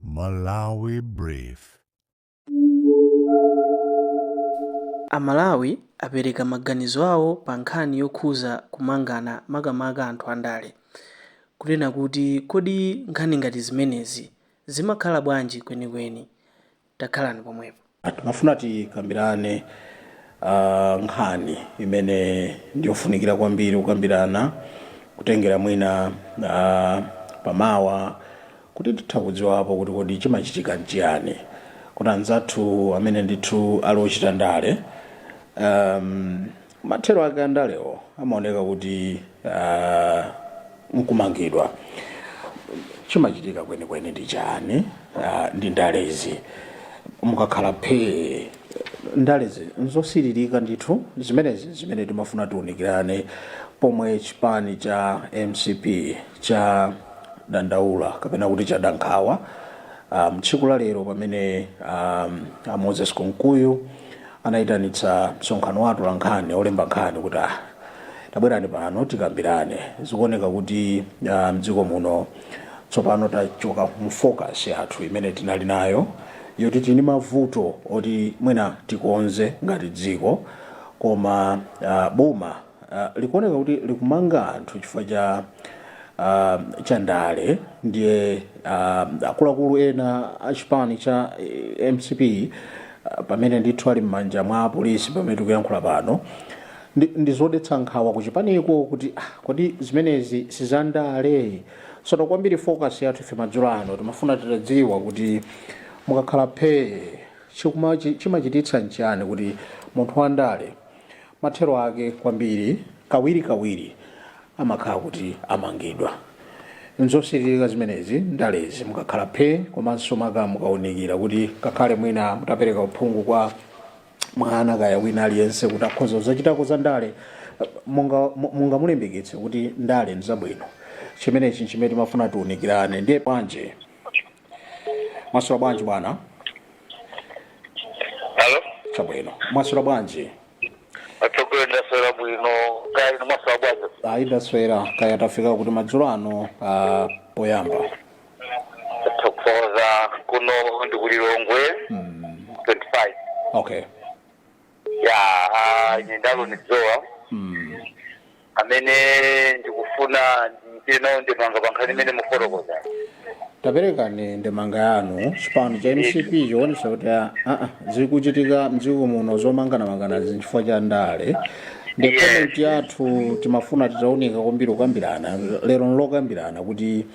Malawi Brief. Amalawi apereka maganizo awo pa nkhani yokhuza kumangana makamaka anthu andale. Kunena kuti kodi nkhani ngati zimenezi zimakhala bwanji kwenikweni? Takhalani pomwepo. Timafuna tikambirane nkhani imene ndi yofunikira kwambiri kukambirana kutengera mwina pa mawa kuti titha kudziwapo kuti kodi chimachitika nchiyani kuti anzathu amene ndithu ali ochita ndale mathero ake andalewo amaoneka kuti uh, nkumangidwa chimachitika kwenikweni ndi chani uh, ndi ndalezi mukakhala phee ndalezi nzosiririka ndithu zimenezi zimene timafuna tiunikirane pomwe chipani cha mcp chadandaula kapena kuti chada nkhawa um, tsiku la lero pamene um, a moses kunkuyu anaitanitsa msonkhano wa atolankhani, olemba nkhani kuti ah, tabwerani pano tikambirane. Zikuoneka kuti ah, mdziko muno tsopano tachoka mu focus yathu imene tinali nayo yoti tili ndi mavuto oti mwina tikonze ngati dziko koma ah, boma likuoneka kuti likumanga anthu chifukwa cha ndale ndiye akuluakulu ena a chipani cha mcp pamene ndithu ali m'manja mwa apolisi pamene tikuyankhula pano ndizodetsa nkhawa kuchipaniko kuti kodi zimenezi sizandale sono kwambiri focus yathu ife madzulo ano timafuna titadziwa kuti mukakhala phee chimachititsa nchiyani kuti munthu wandale Mathero ake kwambiri kawirikawiri amakhala kuti amangidwa. Nzosiririka zimenezi ndalezi mukakhala phe komanso maka mukaunikira kuti ngakhale mwina mutapereka uphungu kwa mwana kaya wina aliyense kuti akhoza kudzachitako za ndale mungamulimbikitse kuti ndale nzabwino chimenechi nchimene timafuna tiunikirane ndiye bwanji Mwaswera bwanji bwana? Alo, Chabwino. Mwaswera bwanji? atsogoleri ndaswera bwino kaya inu mwaswera bwanji Ayi ndaswera kaya tafika kuti madzulo ano ah, poyamba. tathokoza kuno ndi ku Lilongwe 25 Okay. ya ah, ine ndi Aloni Dzowa mm. amene ndikufuna ndichite nawo ndemanga pa nkhani imene mukufotokoza taperekani ndemanga yanu chipani cha mcp chikuonesa kuti ah, ah, zikuchitika mdziko muno zomanganamanganazi nchifukwa cha ndale ndi Yes. komenti yathu timafuna titaunika kwambiri kukambirana lero nlokambirana kuti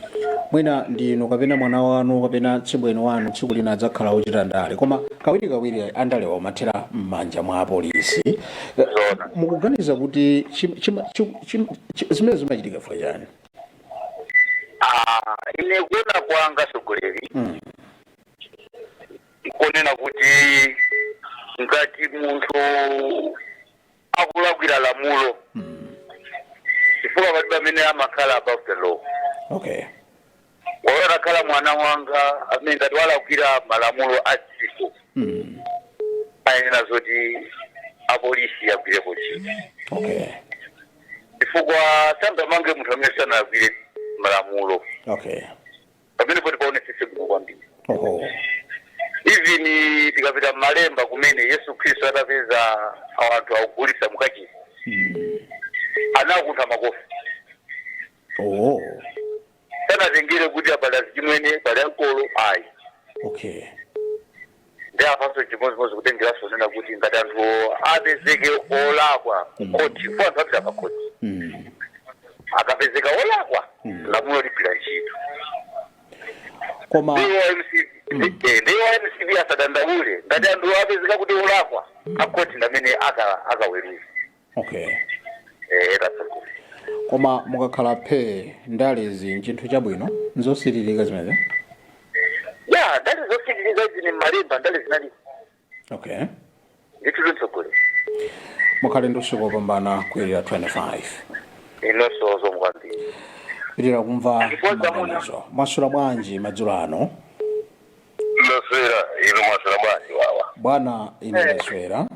mwina ndi inu kapena mwana wanu kapena tsibweni wanu tsiku lina adzakhala ochita ndale koma kawirikawiri andalewa umathera m'manja mwa apolisi Eh, Zoona. mukuganiza kuti chim- chima- chi- chim- chi- zimene zimachitika chifukwa chani Ah, ine kuona kwanga atsogoleri Mm. nkonena kuti ngati munthu akulakwira lamulo chifukwa palibe amene amakhala above the law okay olo atakhala mwana wanga amene ngati walakwira malamulo a dziko mm. ayenera zoti apolisi agwirepo ntchito okay chifukwa sangamange munthu amene sanalakwire malamulo okay pamene poti paonesese bwino kwambiri Oho. even tikapita mmalemba kumene yesu khristu atapeza anthu akugulitsa mukachisi anawakuntha makofi Oho. sanatengere kuti apa ali achimwene pali ankolo ayi Okay. ndi apanso chimodzimodzi kutengeranso kunena kuti ngati anthu apezeke olakwa kukhoti kwa anthu apita pakhoti Mm. akapezeka olakwa lamulo ligwira ntchito koma ndiye mcp eh, ndiye mcp asadandaule ngati anthu apezeka kuti olakwa akhoti ndamene aka- akaweruze okay eh tasuku koma mukakhala phe ndalezi nchinthu chabwino nzosiririka zimenezo ya ndali zosiririka izi ni mmalemba ndali zinali okay ndithu zitsogolo mukhale ndi usiku wopambana kuyerira 25 inunso zikomo kwambiri tipitiriza kumva maganizo mwaswera bwanji madzulo ano ndaswera inu mwaswera bwanji wawa bwana ine ndaswera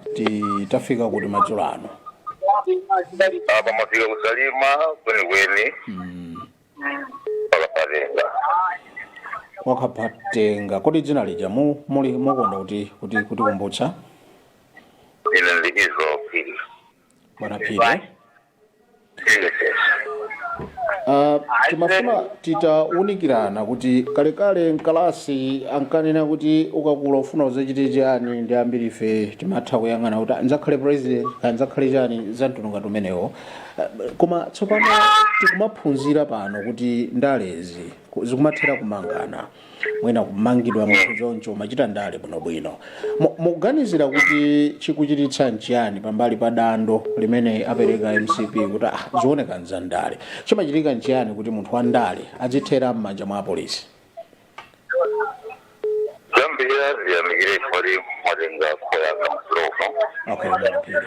tafika kuti madzulo ano apa mwafika ku Salima kwenikweni kwa Kaphatenga kwa Kaphatenga kodi dzina lija mu- muli mukonda kuti kuti kuti kumbutsa ine ndi izoki bwana phiri Ah, timafuna titawunikirana kuti kalekale mkalasi ankanena kuti ukakula ufuna udzachite chani ndi ambiri ife timatha kuyang'ana kuti nzakhale president kaya nzakhale chani za mtundu ngati umenewo Ah, koma tsopano tikumaphunzira pano kuti ndalezi ku- zikumathera kumangana mwina kumangidwa munthu choncho amachita ndale bwinobwino Mu- mukuganizira kuti chikuchititsa nchiyani pambali pa dando limene apereka mcp kuti ah, zioneka nza ndale chimachitika nchiyani kuti munthu wa ndale adzithera m'manja mwa apolisi choyamba ndiyamikire chifukwa mwatenga call yanga mfulofa okay a Phiri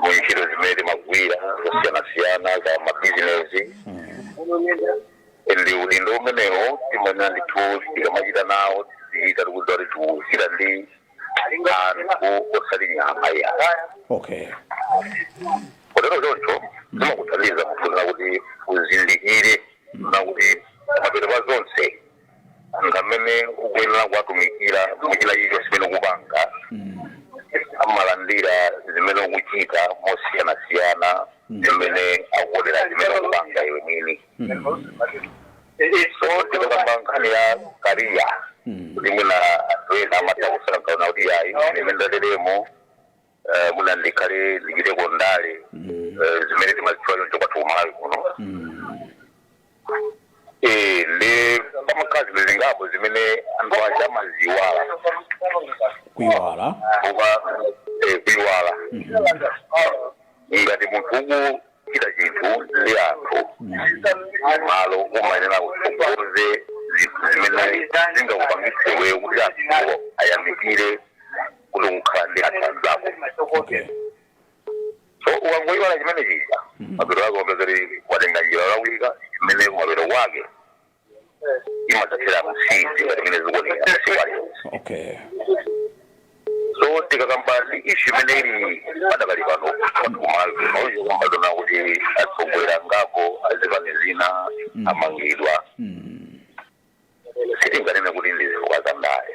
mu ntchito zimene timagwira zosiyanasiyana za mabizinesi ndi udindo umenewo timanena ndithu tikamachita nawo tizichita tikudziwa kuti tikuchita ndi anthu osati nyama iya okay kotero choncho zimakuthandiza munthu na kuti uzindikire kunena kuti mapeto pa zonse ndi amene ukuyenera kuwatumikira mu china chilichonse chimene ukupanga amalandira zimene ukuchita mosiyanasiyana zimene akuonera zimene ukupanga iwe mwini so tikakamba nkhani ya kariya kuti mwina anthu ena amatha kusankha kunena kuti ayi ine mundalemo eh, mwina ndikhale ndichiteko ndale eh, zimene timazitchula choncho kwathu kumalawi kuno Eh, ndi pamakhala zinthu zingapo zimene anthu aja amaziwala kuiwala eh, kuiwala ngati munthu uku chita chinthu ndi anthu malo umayenera kutsogoza zinthu zimene zingakupangitse iweyo kuti anthuwo ayamikire kuti ukukhala ndi anthu anzako okay so ukangoiwala chimene chija mapeto ake umapeza kuti watenga njira yolakwika imene mapeto ake imadzathera m'zinthu ngati mene zikuonekera masiku aliwonse okay so tikakamba ndi ishu imene ili padakali pano kumalawi kuno pakuona kuti atsogoleri angapo azipani zina amangidwa sitinganene kuti ndi zifukwa za ndale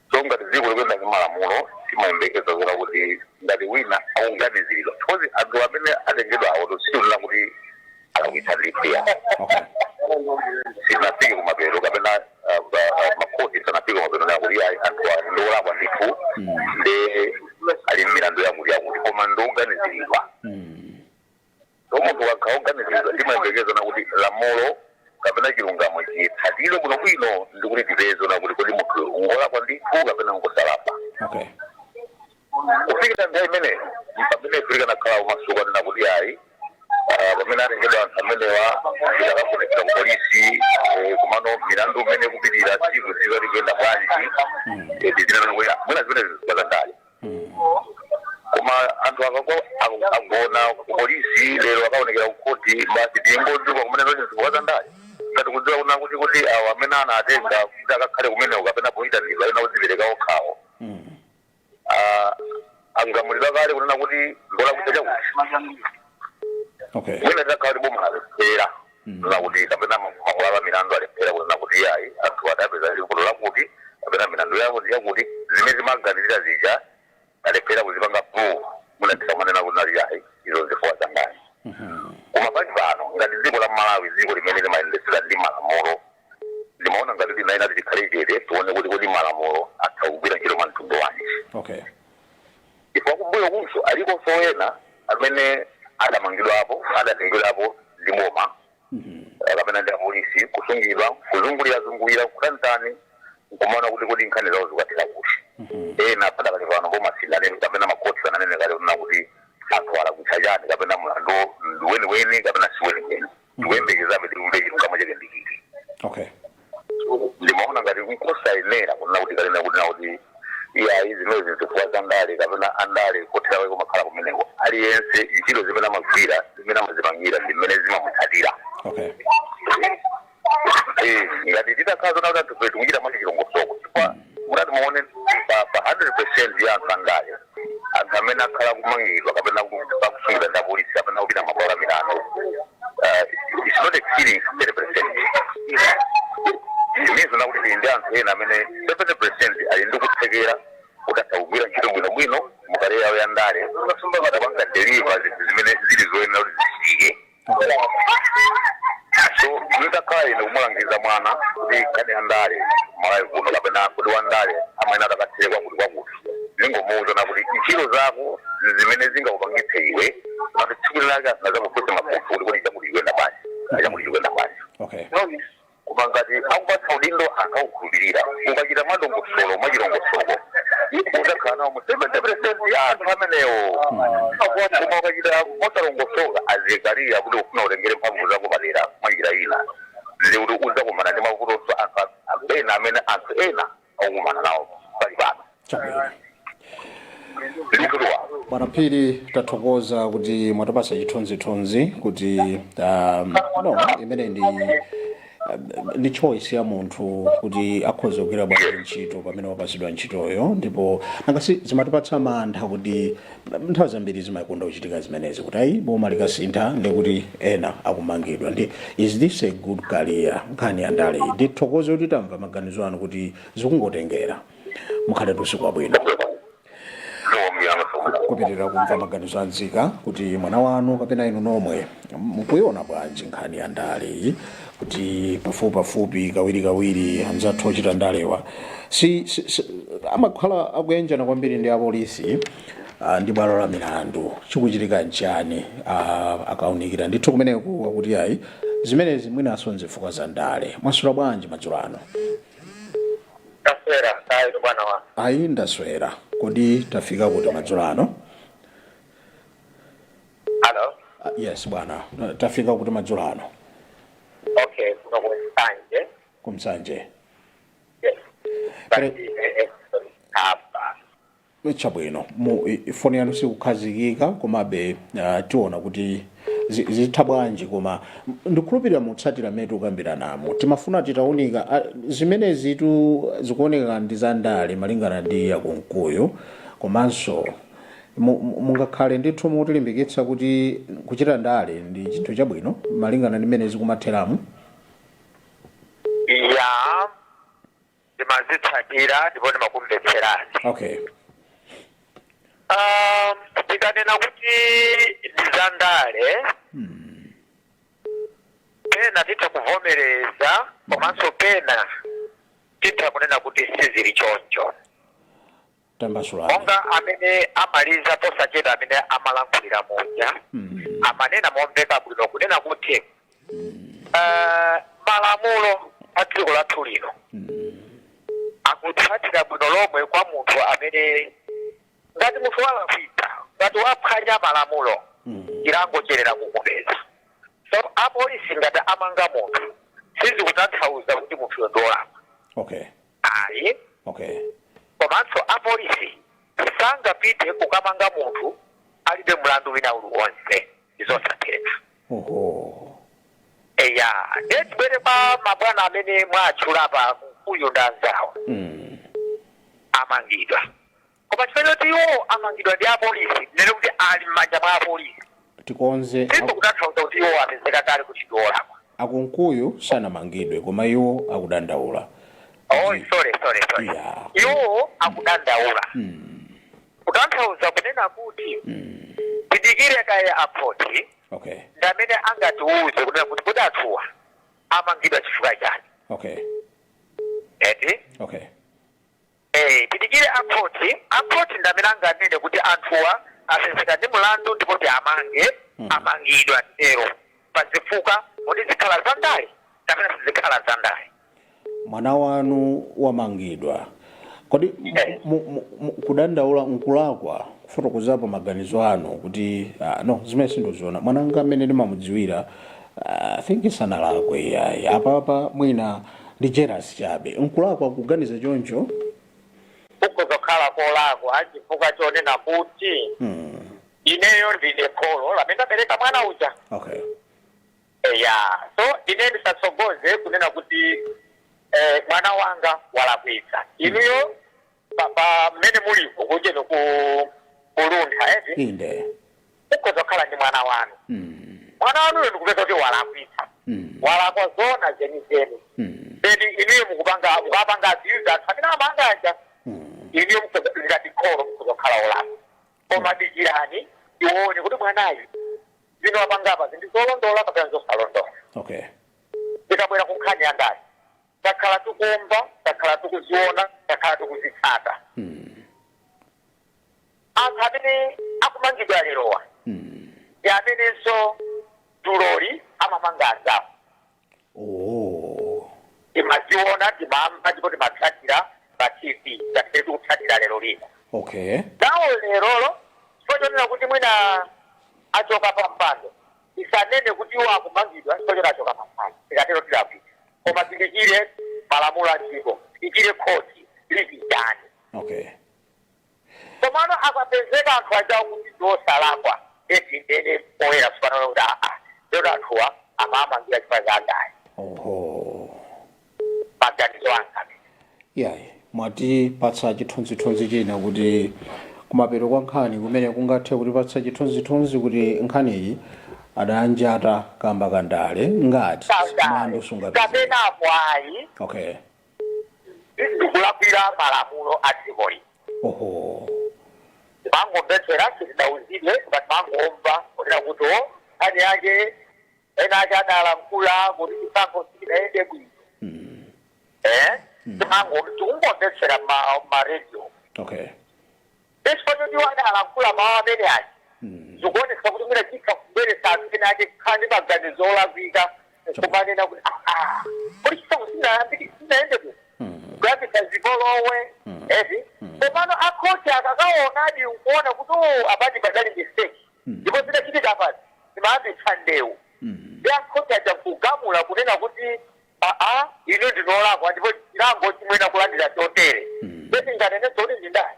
so ngati dziko likuyenda ndi malamulo timayembekeza kuona kuti ngati wina akuganiziridwa because anthu amene atengedwa awo sitikunena kuti alakwitsa ndithu ya sinafike kumapeto kapena ah, ah, makoti sanafike kumapeto kunena kuti ayi anthu awa ndi olakwa ndithu ndi ali m'milandu yakuti yakuti koma ndi oganiziridwa So munthu akakhala oganiziridwa timayembekeza kunena kuti lamulo kapena chilungamo chitsatire bwinobwino ndi kuti tipeze kunena kuti kodi munthu ngolakwa ndithu kapena ngosalakwa okay kufikira nthawi imeneyo pamene ife tikanakhala omasuka kunena kuti ayi ah, pamene atengedwa anthu amenewa ndi kukafunsidwa ku polisi eh, kumano milandu imene kupitira tsiku tsiku zikuyenda bwanji tidzanena kuti mwina zimenezi zifukwa za ndale koma anthu akangogona kupolisi lero akaonekera kukhoti basi tingodziwa kumene zoti zifukwa za ndale ngati tikudziwa kunena kuti kuti awo amene anatenga kuti akakhale kumeneko kapena poyitanidwa ena kudzipereka okhawo Ah, agamulidwa kale kunena kuti ngolakwitsa chakuti okay mwina takhala kuti bomwe alepera lakuti kapena makhoti a milandu alephera kunena kuti iyayi anthuwa adapezeka ndi vuto lakuti kapena milandu yawo yakuti, zimene timaganizira zija talephera kuzipanga prove, mwina tikamanena kuti nali iyayi izo nzifukwa zangati. Koma pali pano ngati dziko la Malawi, dziko limene limayendetsedwa ndi malamulo, ndimaona ngati tinayenera tikhale chete tione kuti kodi malamulo atha kugwira ntchito mwa mtundu wanji. Okay. Ndipo kumbuyokunso alikonso ena amene adamangidwapo, adatengedwapo ndi boma kapena ndi apolisi kusungidwa, kuzungulirazungulira, nkutani ntani, nkumaona kuti kodi nkhani zawo zikukathera kuti. Ena padakali pano boma silinanene kapena makhoti sananene kale kunena kuti anthuwa alakwitsa chani kapena mlanduwo ndi weniweni kapena si weniweni. tikuyembekezabe timve chilungamo chake ndi chiti okay ndimaona ngati nkosayenera kunena kuti kalena kuti nakuti iyayi zimenezi nzifukwa za ndale kapena andale kothera kwake kumakhala kumeneko aliyense ntchito zimene amagwira zimene amazipangira ndi zimene zimamutsatira okay Eh, ngati titakhala zoona kuti anthufe tikuchita mwa chilongosoko chifukwa Mutati muone pa pa 100% ya anthu andale, anthu amene akhala akumangidwa kapena aku- akusungidwa ndi apolisi kapena kupita mmabwalo a milandu, uh, it's not exceeding 30% Meaning kunena kuti tili ndi anthu ena amene 70% ali ndi kuthekera kuti atha kugwira ntchito bwinobwino mu kariya yawo ya ndale, atha kupanga deliver zinthu zimene zili zoyenera kuti zichitike. so nditakhala ine kumulangiza mwana kuti nkhani ya ndale malawi kuno kapena kuti wandale amayenera akathere kwakuti kwakuti ndingomuuza kunena kuti ntchito zako zimene zingakupangitse iwe kuti tsiku lake adzakufunse mafunso kuti kodi chakuti chikuyenda bwanji chakuti chikuyenda bwanji okay no Koma ngati akupatsa udindo akakukhulupirira, ukachita mwadongosolo, mwachilongosoko, udzakhala nawo mu 70% ya anthu amenewo. Koma ukachita mosalongosoka, a Zekariya, kuti ufuna utengere mphamvu zako padera mwa njira ina, ndiye kuti udzakumana ndi mavutonso anthu a- ena amene anthu ena akukumana nawo pali pano chabwino ndikutuwa bwana phiri tathokoza kuti mwatipasa chithunzithunzi kuti um, ndiye imene ndi um, ndi choice ya munthu kuti akhoza kugwira bwanji ntchito pamene wapasidwa ntchitoyo ndipo nanga si zimatipatsa mantha kuti nthawi zambiri zimakonda kuchitika zimenezi kuti ayi boma likasintha ndekuti ena akumangidwa ndi is this a good career nkhani ya ndale iyi ndithokoze kuti tamva maganizo anu kuti zikungotengera mukhale ndi usiku wabwino kupitirira kumva maganizo a nzika kuti mwana wanu kapena inu nomwe mukuiona bwanji nkhani ya ndale iyi kuti pafupipafupi kawirikawiri anzathu ochita ndalewa si, si, si, amakhala akuyanjana kwambiri ndi apolisi ah, ndi bwalo la milandu chikuchitika nchani ah, akaunikira ndithu kumeneku akuti ayi zimenezi mwinaso nzifukwa za ndale mwaswera bwanji madzulo ano ndaswera ayi bwana wa ayi ndaswera kodi tafika kuti madzulo ano Hello? Ah, yes bwana Eh, tafika kuti madzulo ano Okay, kuno ku Nsanje. ku Nsanje Yes. Pali- Nsanje ine Edison Kapa. chabwino mu i- foni yanu sikukhazikika komabe ah, tiona kuti zi- zitha bwanji koma m- ndikhulupirira mutsatira mmene tikukambiranamo timafuna titaunika ah, zimenezi tu zikuoneka ndi zandale malingana ndi ya Kunkuyu komanso Mu- mu- mungakhale ndithu mutilimbikitsa kuti kuchita ndale ndi chinthu chabwino malingana ndi mmene zikumatheramu ya ndimazitsatira ndipo ndimakumvetseraniso okay Ah, tikanena kuti ndi za ndale pena titha kuvomereza komanso pena titha kunena kuti sizili choncho tambasulani monga amene amaliza posachedwa amene amalankhulira muja amanena momveka bwino kunena kuti eh, malamulo a dziko lathu lino akutsatira bwino lomwe kwa munthu amene ngati munthu walakwitsa ngati waphwanya malamulo chilango chiyenera kumupeza so apolisi ngati amanga munthu sizikutanthauza kuti munthuyo ndi olakwa okay ayi okay komanso apolisi sangapite kukamanga munthu alibe mlandu wina uliwonse ndizosatheka oho eya ndiye tibwere kwa mabwana amene mwatchula a Kunkuyu ndanzawo mm. amangidwa Koma chifukwa choti iwo amangidwa ndi apolisi, tinene kuti ali m'manja mwa apolisi, Tikonze ak sizikutanthauza kuti iwo apezeka kale kuti ndi olakwa. a Kunkuyu sanamangidwe koma iwo akudandaula Oh, kuti sorry, sorry, sorry. Yeah. Iwo akudandaula. Kutanthauza kunena kuti tidikire kaye a khoti Okay. ndi amene angatiuze kunena kuti kodi anthuwa amangidwa chifukwa chani. Okay. Eti? Okay. Eee tidikire a court, a court ndi amene anganene kuti anthuwa apezeka ndi mlandu ndipo tiamange, amangidwa titero pa zifukwa kodi zikhala za ndale kapena sizikhala za ndale. Mwana wanu wamangidwa kodi mu- mu- mu- kudandaula nkulakwa kufotokozapo maganizo anu kuti ah, no zimene sindoziona mwana wanga mmene ndimamudziwira I think sanalakwe iyayi apapa mwina ndi jealous chabe nkulakwa kuganiza choncho mukhoza kukhala kolakwa chifukwa chonena kuti hmm. ineyo ndine kholo lamene ndabereka mwana uja okay eya so ine ndisatsogoze kunena kuti eh, mwana wanga walakwitsa inuyo pa pa mmene mulipo kunjeno ku kuluntha eti inde mukhoza kukhala ndi mwana wanu Mm, mwana wanuyo ndikupezeka kuti walakwitsa mm, walakwa zona zenizeni mm, then inuyo mukupanga mukapanga aziuza anthu amene amanjata mm. inuyo mukhoza ngati kholo mukhoza kukhala olakwa koma dikirani tione kuti mwanayu zimene wapangapa ndi zolondola kapena zosalondola okay tikabwera ku nkhani ya ndale takhala tikumva, takhala tikuziona, takhala tikuzitsata. Anthu amene akumangidwa lerowa ndi amenenso dzuloli amamanga anzawo. Oh. Timaziona, timamva ndipo timatsatira pa TV ngati mmene tikutsatira lero lino. Okay. nawo lerolo chifukwa chonena kuti mwina achoka pa mpando tisanene kuti iwo akumangidwa chifukwa choti achoka pa mpando tikatero tilakwitsa koma tidikire malamulo a dziko tidikire khoti litichani okay komano akapezeka anthu aja kuti ndiosalakwa eti nde tinene poyera tsopano kuti aa lero anthuwa amamangira chifukwa cha ndale oho maganizo anga amene Iyayi, mwatipatsa chithunzithunzi china kuti kumapeto kwa nkhani kumene kungathe kutipatsa chithunzithunzi kuti nkhaniyi adanjatwa kamba ka ndale ngati mlandu sungapezeke. kapenapo ayi Okay. ndikulakwira malamulo a dziko lino Oho. timangomvetsera sitidauzidwe koma timangomva kunena kuti o nkhani yake ena ake adalankhula kuti chisankho sichidayende bwino eh timango tikungomvetsera m'ma radio okay nde chifukwa choti iwo adalankhula mawu amene aja zikuonesa kuti mwina zitha kubweretsa anthu ena ake kukhala ndi maganizo olakwika kumanena kuti "Ah, ah, kodi chisankho sinayambiki sinayende bwino kuyambitsa zipolowe eti komano akhoti akakaonadi nkuona kuti "Oh, apadi padali mistake ndipo zidachitika apazi zimayambitsa ndewu ndi a khoti aja nkugamula kunena kuti aa inu ndinu olakwa ndipo chilango chi muyenera kulandira chotere nde tinganenenso kuti ndi ndale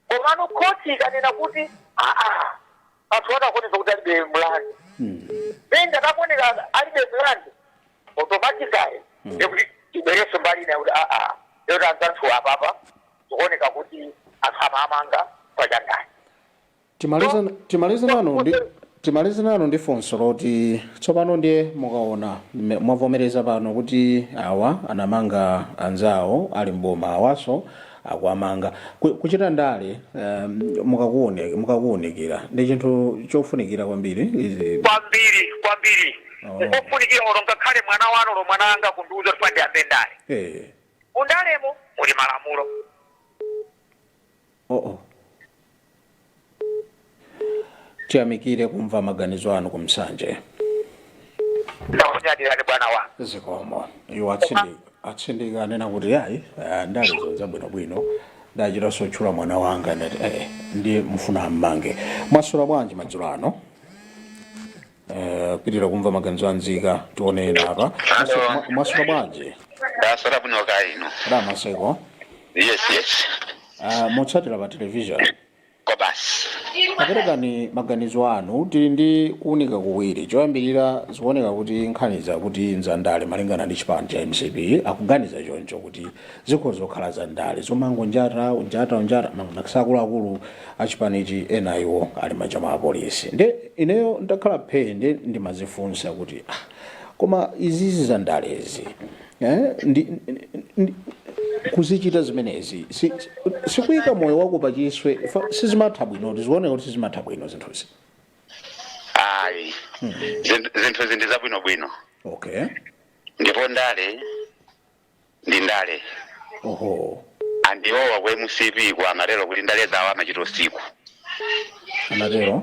komano khoti ikanena kuti aa anthuwa akuoneka kuti alibe mlandu nde ngati akuoneka alibe mlandu automatically ndikuti tibwerenso mbali ina kuti aa lero anzathu apapa zikuoneka kuti anthu amamanga pa za ndale timalize timalize nanu ndi timalize nanu ndi funso loti tsopano ndiye mukaona mme- mwavomereza pano kuti awa anamanga anzawo ali mboma awaso akuwamanga Ku- kuchita ndale um, mukakuone- mukakuunikira ndi chinthu chofunikira kwambiri izi kwambiri kwambiri Oh. nkofunikira olo ngakhale mwana wanu olo mwana wanga kundiuza kuti pandiyambe ndale eh, mundalemo muli malamulo Oh oh. Tiyamikire kumva maganizo anu kumsanje. ndakunyadirani bwana wanga Zikomo. Iwo atsindi atsindika anena kuti ayi ah, ndalezo nza bwino bwino. Ndachitanso tchula mwana wanga ndati eh ndi mfuna ammange. Mwaswera bwanji madzulo ano? Eh, pitira kumva maganizo a anzika tione ena apa Maso- ma- mwaswera bwanji ndaswera bwino kaya inu a Maseko yes yes Ah, motsatira pa television kwa basi aperekani maganizo anu tili ndi kuunika kuwiri choyambirira zikuoneka kuti nkhaniza kuti nzandale malingana ndi chipani cha mcp akuganiza choncho kuti zikhoza kukhala zandale zomangonjata unjata unjata mangonakisa akuluakulu achipanichi ena a iwo ali mmanja mwa apolisi nde ineyo ndakhala phee nde ndimazifunsa kuti ah, koma izizi za ndalezi eh, ndi, ndi, kuzichita zimenezi si- si- sikuyika moyo wako pachiswe fa- sizimatha bwino ti zikuoneka kuti sizimatha bwino zinthuzi ayi Zinthu- zinthuzi ndi zabwinobwino okay ndipo ndale ndi ndale oho and iwowa ku mcp ku amatero kuti ndale zawo amachita usiku anatero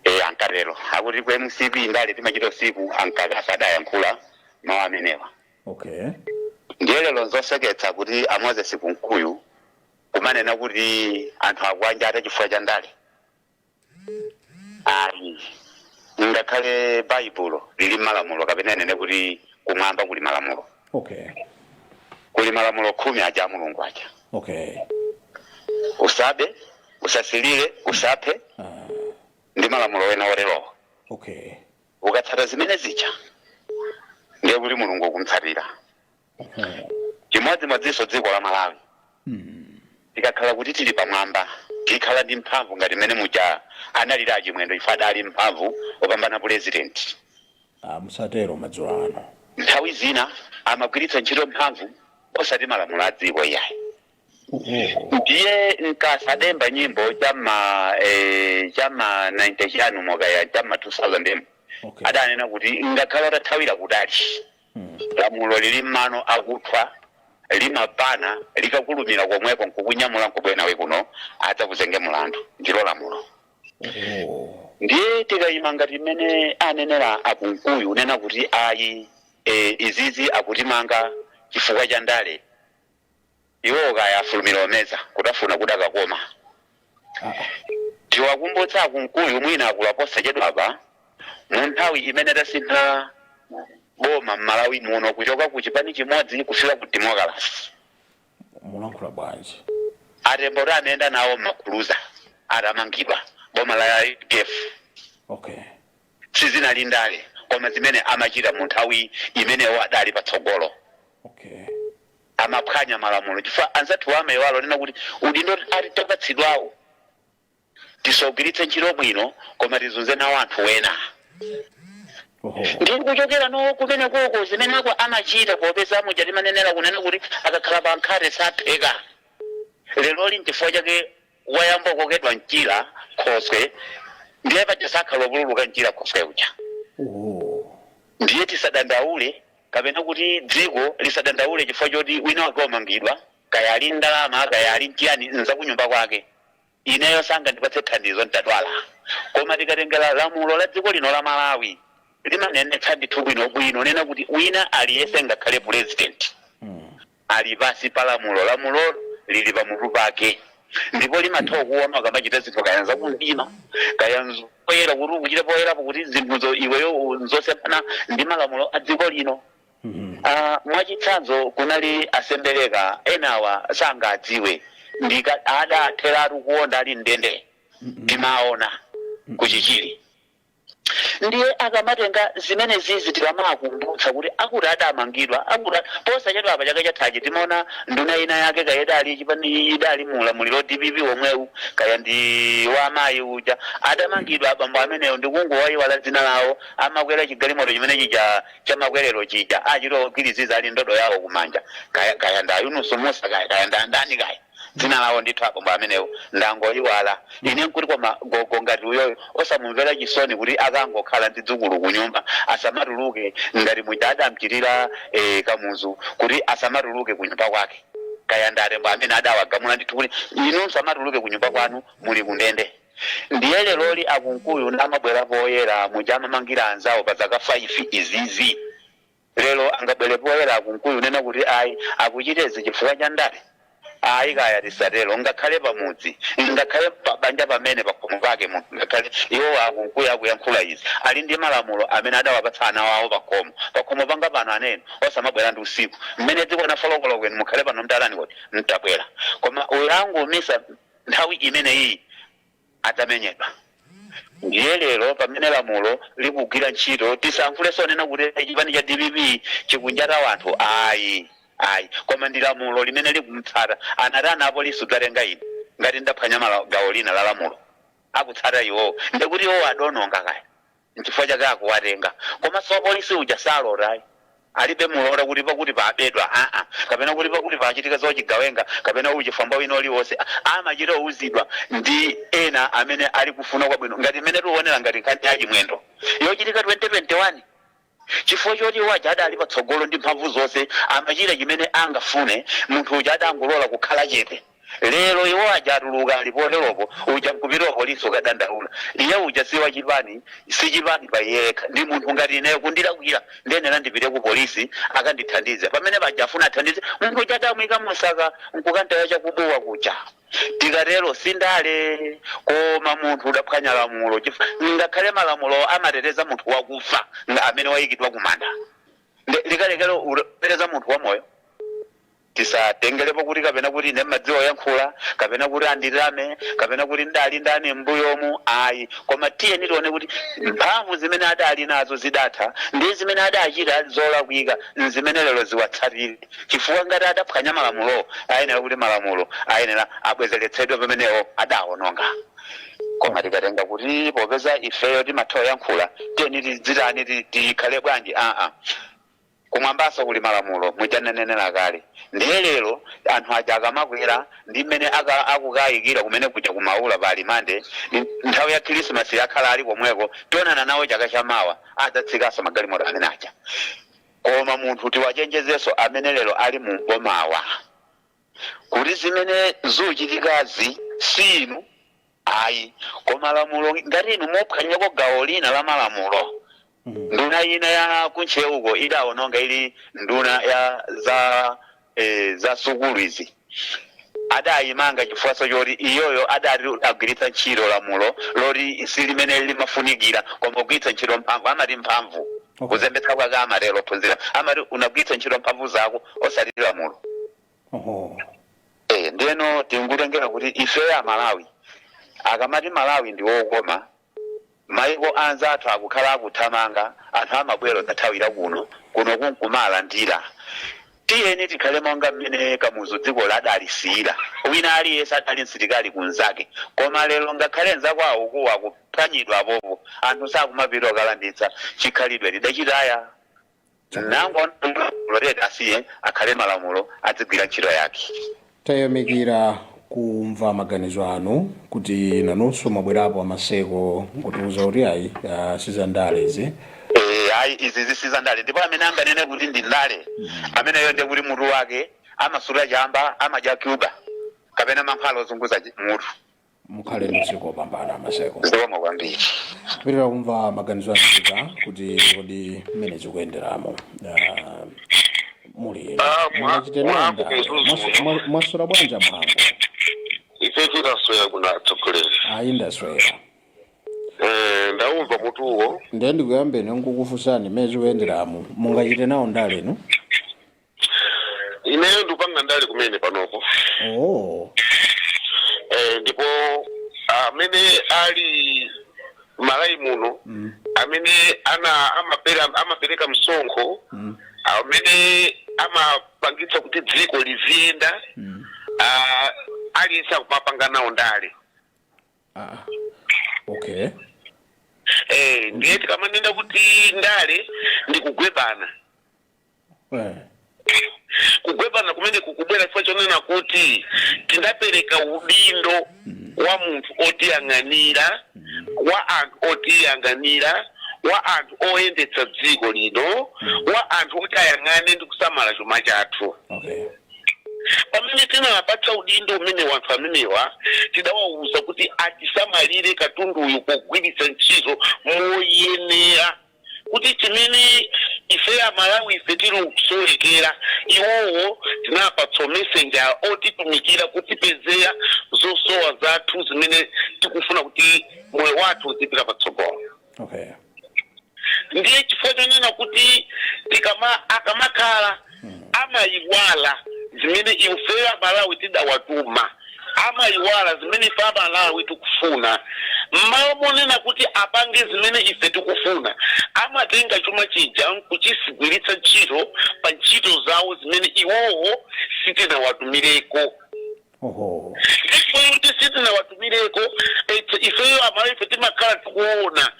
e ankatero akuti ku mcp ndale timachita usiku a Mkaka adayankhula mawu amenewa okay ndiye lero nzoseketsa kuti a moses kunkuyu kumanena kuti anthu akuwanjata chifukwa cha ndale ayi ngakhale baibulo muli malamulo kapena ndinene kuti kumwamba kuli malamulo okay kuli malamulo khumi aja a mulungu aja okay usabe usasilire usaphe ah, ndi malamulo ena oterowo okay ukatsata zimene zija ndiye kuti mulungu ukumtsatira chimodzimodzinso dziko la malawi tikakhala kuti tili pamwamba tikhala ndi mphamvu ngati mmene muja analiri achimwendo ife adali mphamvu opambana pulezidenti Ah, musatero madzulo ano nthawi zina amagwiritsa ntchito mphamvu osati malamulo a dziko iyayi ndiye Nkasa adaimba nyimbo chama eh, chama 90 chanimo kaya chama 2000 m Okay. adanena kuti ngakhale utathawira kutali lamulo lili mmano akuthwa limapana likakulumira komweko nkukunyamula nkubwera nawe kuno adzakuzenge mulandu ndilo lamulo ndiye tikayima ngati mmene anenera akunkuyu unena kuti ayi e, izizi akutimanga chifukwa cha ndale Iwowo kaya afulumira kumeza kutafuna kudakakoma. Tiwakumbutse a Kunkuyu mwina akula posachedwapa mu nthawi imene tasintha boma m'Malawi muno kuchoka ku chipani chimodzi kufika ku demokalase. mulankhula bwanji? A Tembo kuti anayenda nawo m'makuluza atamangidwa boma la udf. Okay. Sizinali ndale koma zimene amachita mu nthawi imene iwo adali patsogolo. Okay. amaphwanya malamulo chifukwa anzathuwa amaiwala kunena kuti udindo ati tapatsidwawu tisaugwiritse ntchito bwino koma tizunze nawo anthu wena Oho. ndi kuchokera no kumene koko zimeneko amachita popeza muja timanenera kunena kuti akakhala pa nkhate sapheka leroli nchifukwa chake wayamba kukokedwa mchira khoswe ndiye paja sakhala kupululuka mchira khoswe uja ndiye tisadandaule kapena kuti dziko lisadandaule chifukwa choti wina wake wamangidwa kaya ali ndi ndalama kaya ali nchiyani nzakunyumba kwake ineyo sangandipatse thandizo nditadwala koma tikatengera lamulo la dziko lino la malawi limanenetsa ndithu bwinobwino nena kuti wina aliyese ngakhale pulezidenti ali pansi pa lamulo. Lamulo lili pamutu pake ndipo limatha kuona ukamachita zinthu kaya n'zakumdima kaya n'zapoyera, kuti ukuchite poyerapo kuti zinthuzo iweyo u- n'zosemphana ndi malamulo a dziko lino. Ah, mwachitsanzo kunali a Sembereka enawa sangadziwe ndika adatheratu kuonda ali mndende timaona ku Chichiri ndiye akamatenga zimenezizi tikamakumbutsa kuti akuti adamangidwa akuti posachedwa apa chaka chathachi timaona nduna ina yake kaya idali nchipani idali mu ulamuliro wa dpp womwewu kaya ndi wa amayi uja adamangidwa abambo amenewo ndikungowayiwala dzina lawo amakwera chigalimoto chimene chija chamakwerero chija achita kugwiriziza ali ndodo yawo kumanja kaya kaya nda Yunusu Musa kaya kaya ndandani kaya dzina lawo ndithu abambo amenewo ndangoiwala ine nkuti koma gogo ngati uyoyo osamumvera chisoni kuti akangokhala ndi dzukulu kunyumba asamatuluke ngati muja adamchitira eh, kamuzu kuti asamatuluke kunyumba kwake kaya ndi atembo amene adawagamula ndithu kuti inu msamatuluke kunyumba kwanu muli kundende ndiye leroli akunkuyu nkumabwera poyera muja amamangira anzawo pa zaka 5 izizi Lero angabwere poyera a Kunkuyu kunena kuti ayi akuchita izi chifukwa cha ndale? Ayi kaya tisatero ngakhale pa mudzi, ngakhale pa banja pamene pakhomo pake munthu ngakhale iwowa a Kunkuyu akuyankhula izi ali ndi malamulo amene adawapatsa ana awo pakhomo. Pakhomo panga pano ana inu osamabwera ndi usiku. Mmene dzikwana 4 koloko inu mukhale pano mtalani kodi mtabwera? Koma walangiza umisa nthawi imeneyiyi. adzamenyedwa. Ndiye lero pamene lamulo likugwira ntchito tisayankhuleso onena kuti chipani cha dpp chikunjata wanthu ayi ayi koma ndi lamulo limene likumtsata antani apolisi kudzatenga ine ngati ndaphwanya mala- gawo lina la lamulo akutsata iwowo ndekuti iwowo adononga kaya nchifukwa chake akuwatenga komaso wapolisi uja salota ayi alibe muloto kuti pakuti pabedwa aa kapena kuti pakuti pachitika zochigawenga kapena uchifamba wina uliwose amachita kuuzidwa ndi ena amene ali kufuna kwabwino ngati mmene tuonera ngati nkhani ya chimwendo yochitika 2021 chifukwa choti iwo aja adali patsogolo ndi mphamvu zose amachita chimene angafune munthu uja adangolora kukhala chete Lero iwo aja atuluka ali poteropo, uja nkupita ku polisi kukadandaula. Iye uja si wa chipani, si chipani pa iye yekha, ndi munthu ngati ineyo. Kundilakwira ndiyenera ndipite ku polisi akandithandize. Pamene paja afuna athandize munthu uja adamuika mu saka nkukamtaya cha ku Bua kuja. Tikatero si ndale koma munthu udaphwanya lamulo ngakhale malamulowo amateteza munthu wakufa amene waikidwa kumanda. Likalekere kuteteza munthu wamoyo? Tisatengelepo kuti kapena kuti ine mmadziwa kuyankhula, kapena kuti anditame, kapena kuti ndali ndani mmbuyomu, ayi, koma tiyeni tione kuti mphamvu zimene adali nazo zidatha ndi zimene adachita zolakwika nzimene lero ziwatsatire chifukwa ngati adaphwanya malamulowo ayenera kuti malamulo ayenera abwezeretsedwe pameneo adaononga. Koma tikatenga kuti popeza ifeyo timatha kuyankhula tiyeni tidzitani, tikhale bwanji, aa. Kumwambaso kuli malamulo muja nnanenela kale ndiye lero anthu aja akamakwera ndi mmene akukayikira kumene kuja ku Maula pa alimande nthawi ya khilisimasi akhala ali komweko tionana nawo chaka cha mawa adzatsikaso magalimoto amene aja koma munthu tiwachenjezeso amene lero ali mu m'bomawa kuti zimene zuchitikazi si inu Ayi. Koma lamulo ngati inu muphwanyako gawo lina la malamulo, nduna ina ya ku Ntcheuko idaononga ili nduna ya za eh, za sukulu izi adayimanga chifukwaso choti iyoyo adati agwiritsa ntchito lamulo loti si limene limafunikira koma kugwiritsa ntchito mphamvu amati mphamvu kuzembetsa kwake amatero ophunzira amati unagwiritsa ntchito mphamvu zako osati lamulo Eh, ndiyeno tikutengera kuti ifeyo amalawi akamati malawi ndi wokoma maiko anzathu akukhala akuthamanga anthu amabwera osathawira kuno kuno nkumalandira tiyeni tikhale monga mmene kamuzu dziko adalisiyira wina aliyense adali msilikali wa mnzake koma lero ngakhale nzawo akukuwa akuphwanyidwa apopo anthu sakumapita kukalanditsa chikhalidwe tidachitaya nango loreti asiye akhale malamulo adzigwira ntchito yake tayamikira kumva maganizo anu kuti nanunso mwabwerapo amaseko nkutiuza kuti ayi ah, sizandale izi Eh, ayi izi zisiza ndale ndipo amene anganene kuti ndi ndale ameneyo ndiye kuti mutu wake amasuta chamba amadya cuba kapena mankhwala ozunguza chi- mutu mukhale ndi usiku wopambana maseko zikomo kwambiri kupitira kumva maganizo anu kuti kodi mmene zikuyenderamo ah, muli Ah, mwa- mwachitenenda mwangu kuzuzu. mwaswera bwanji a Mhango ife tikasoya kuna atsogoleri ayi ndaswera Eh, ndaumva mutuwo ndiye ndikuyambeni ndi kukufunsani mmene zikuyenderamo mungachite nawo ndale inu ineyo ndikupanga ndale kumene panopo oh eh, ndipo amene ali mMalawi muno mm. amene ana amapera amapereka msonkho Mm. amene amapangitsa kuti dziko liziyenda Mm. ah, aliyense akumapanga nawo ndale ah okay eh, ndiye tikamanena kuti ndale ndikugwebana Eh. kugwebana kumene kukubwera chifukwa chonena kuti tinapereka udindo kwa munthu otiyang'anira kwa anthu otiyang'anira kwa anthu oyendetsa dziko lino kwa anthu oti ayang'ane ndi kusamala chuma chathu Okay. pamene tinawapatsa udindo umenewu anthu amenewa tidawawuza kuti atisamalire katunduyu pogwiritsa ntchito moyenera kuti chimene ife amalawi ife tili kusowekera iwowo tinawapatsa umessenger otitumikira kutipezera zosowa zathu zimene tikufuna kuti moyo wathu uzipita patsogolo okay ndiye chifukwa chonena kuti tikama akamakhala amayiwala zimene ifeyo amalawi tidawatuma amayiwala zimene ife amalawi tikufuna mmalo monena kuti apange zimene ife tikufuna amatenga chuma chija nkuchigwiritsa ntchito pa ntchito zawo zimene iwowo sitinawatumireko Oho. Ndipo kuti sitinawatumireko eti ifeyo amalawi ife timakhala tikuona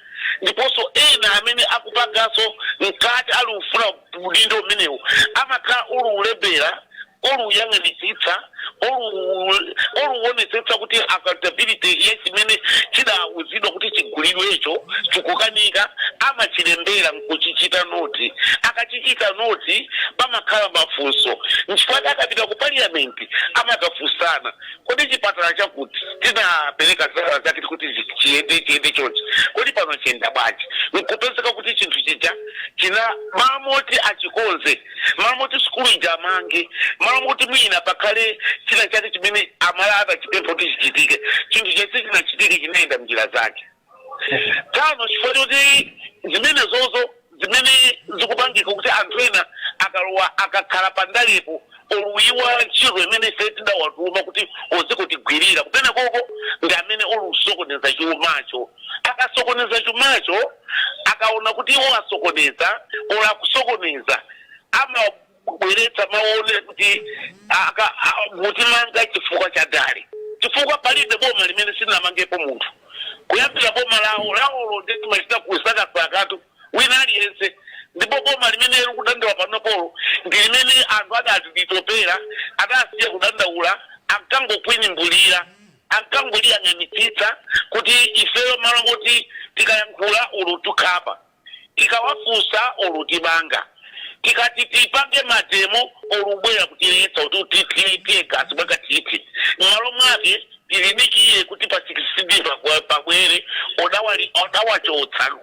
ndiponso ena amene akupanganso mkati ali ufuna udindo umenewu amakhala uli ulembera uli uyang'anitsitsa uli uli uonetsetsa kuti accountability ya chimene chidauzidwa kuti chigulidwecho chikukanika amachilembera nkuchichita noti akachichita noti pamakhala mafunso nchifukwa chake akapita ku parliament kuti amakafunsana kodi chipatala chakuti tinapereka ndalama zake kuti zi- chiyende chiyende chonchi kodi pano chiyenda bwanji nkupezeka kuti chinthu chija china malo moti achikonze malo moti sukulu ija amange malo moti mwina pakhale china chake chimene amalawi adachipempha kuti chichitike chinthu chonse chinachitike chinayenda mnjira zake tano chifukwa choti zimenezozo zimene zikupangika kuti anthu ena akalowa akakhala pandalepo oluyiwa ntchito imene ife tidawatuma kuti uzikatigwirira kumenekoko ndi amene uli usokoneza chumacho akasokoneza chumacho akaona kuti iwo asokoneza ola kusokoneza ama kubweretsa mawu onena kuti aka- a- mutimanga chifukwa cha ndale chifukwa palibe boma limene silinamangepo munthu kuyambira boma lawo lawolo nde timachita kusakasakatu wina aliyense ndipo boma limene likudandaula panopolo ndi limene anthu adatitopera adasiya kudandaula ankangong'ung'udzira ankangoliyang'anitsitsa kuti ifeyo malo moti tikayankhula ulu tukhapa tikawafunsa olutimanga tikati tipange mademo olubwera kutiletsa kutithira tear gas mwakathithi mmalo mwake tidikire kuti pa 16 pakwa- pabwere odawali odawachotsa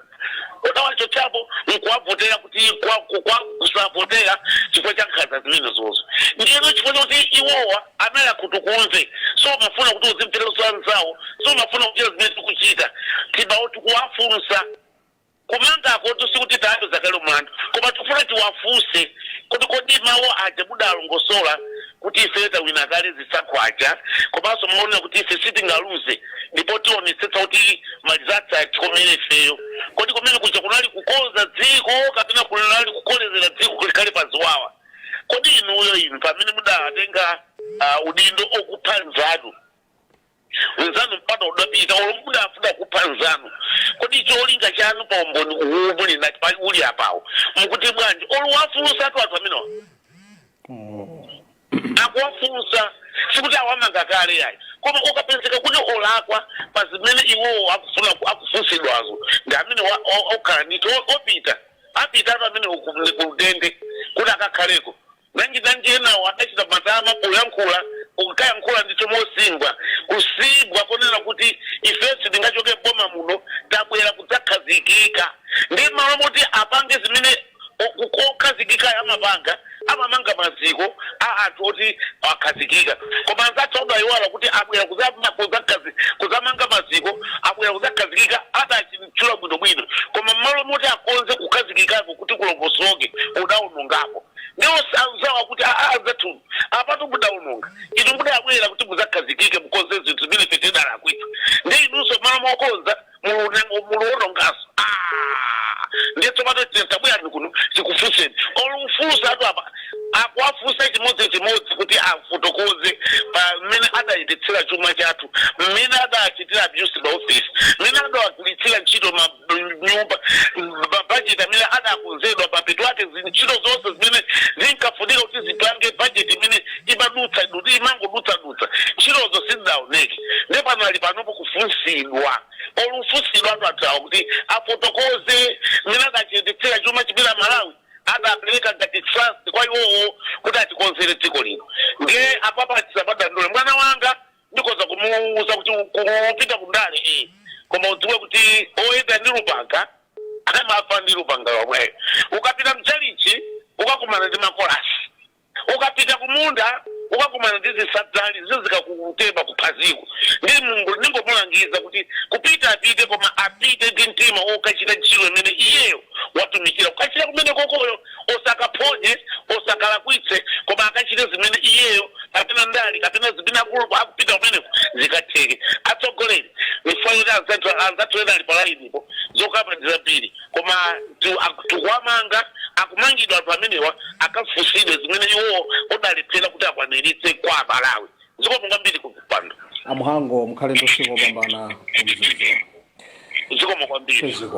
odawachotsapo nkuwavotera kuti kwa- ku- kwa kusavotera chifukwa cha nkhanza zimenezozo ndiyeno chifukwa chakuti iwowa ali akhutukumve so mafuna kuti uzimveranso anzawo so mafuna kuchita zimene tikuchita timawo tikuwafunsa Kumangakotu sikuti tawapeza kale mlandu koma tikufuna tiwafunse kuti kodi mawu aja mudalongosola kuti ifeyo tawina kale zisankho aja komanso mumanena kuti ife sitingaluze ndipo tionetsetsa kuti ma results atikomere ifeyo, kodi kumene kuja kunali kukonza dziko kapena kunali kukolezera dziko likhale pa ziwawa? Kodi inuyo inu pamene mudatenga udindo okupha nzanu. nzanu mpaka adapita olo mudafuna kupha nzanu kodi cholinga chanu pa umboni umene ulipo apawo mukuti bwanji oluwafunsatu anthu amenewa akuwafunsa sikuti awamanga kale yayi koma akapezeka kuti olakwa pa zimene iwowo akufuna ku- akufunsidwazo ndi amene wa- o- okhala ndithu o- opita apitatu pamene uku- ndi kundende kuti akakhaleko Nanji nanji enawo adachita matama poyankhula onkayankhula ndithu mosimbwa kusimbwa konena kuti ifeyo sitingachoke m'boma muno tabwera kudzakhazikika ndiye m'malo moti apange zimene okhazikikayo amapanga amamanga maziko a anthu oti akhazikika koma anzathu adaiwala kuti abwera kudzamanga maziko abwera kudzakhazikika adachitchula bwinobwino koma m'malo moti akonze kukhazikikako kuti kulongosoke udaonongapo. ndi onse anzawo akuti aa anzathu apatu mudaononga inu mudabwera kuti mudzakhazikike mukonze zinthu zimene ife tidalakwitsa ndi inunso mmalo mokonza mulu- muluononganso Ah! ndiye tsopano tiye tabwerani kuno tikufunseni oluwafunsa anthu apa akuwafunsa chimodzichimodzi kuti afotokoze pa mmene adayendetsera chuma chathu mmene adachitira abuse maofesi mmene adawagwiritsira ntchito ma nyumba mabajeti amene adakonzedwa mapeto ake zi- ntchito zonse zimene zinkafunika kuti zipange bajeti imene imadutsa duti imangodutsadutsa ntchitozo sizidaoneke ndi pano ali panopo kufunsidwa olufunsidwa anthu atawa kuti afotokoze mmene adachititsira chuma chimene a malawi adapereka ngati trust kwa iwowo kuti atikonzere dziko lino ndiye apapa tisamadandaule mwana wanga ndikhoza kumuwuza kuti kupita kundale eh. koma udziwe kuti oyenda ndi lupanga amafa ndi lupanga lomweyo ukapita mchalichi ukakumana ndi makolasi ukapita kumunda ukakumana ndi zisadzali zizikakutema kuphaziko ndi mulungu ndingomulangiza kuti kupita apite koma apite ndi mtima okachita ntchito imene iyeyo watumikira kukachita kumenekoko iyo osakaphonye, osakalakwitse, koma akachite zimene iyeyo kapena ndale kapena zimene akulowa akupita kumeneko zikatheke. Atsogoleri chifukwa choti anzathu anzathu ena ali palainipo zokamba ndi zambiri, koma tu- ak- tikuwamanga akumangidwa anthu amenewa akafunsidwe zimene iwowo adalephera kuti akwaniritse kwa Amalawi. Zikomo kwambiri kupando. amhango mukhale ndi usiku wopambana kumzuzu Zikomo kwambiri. ziko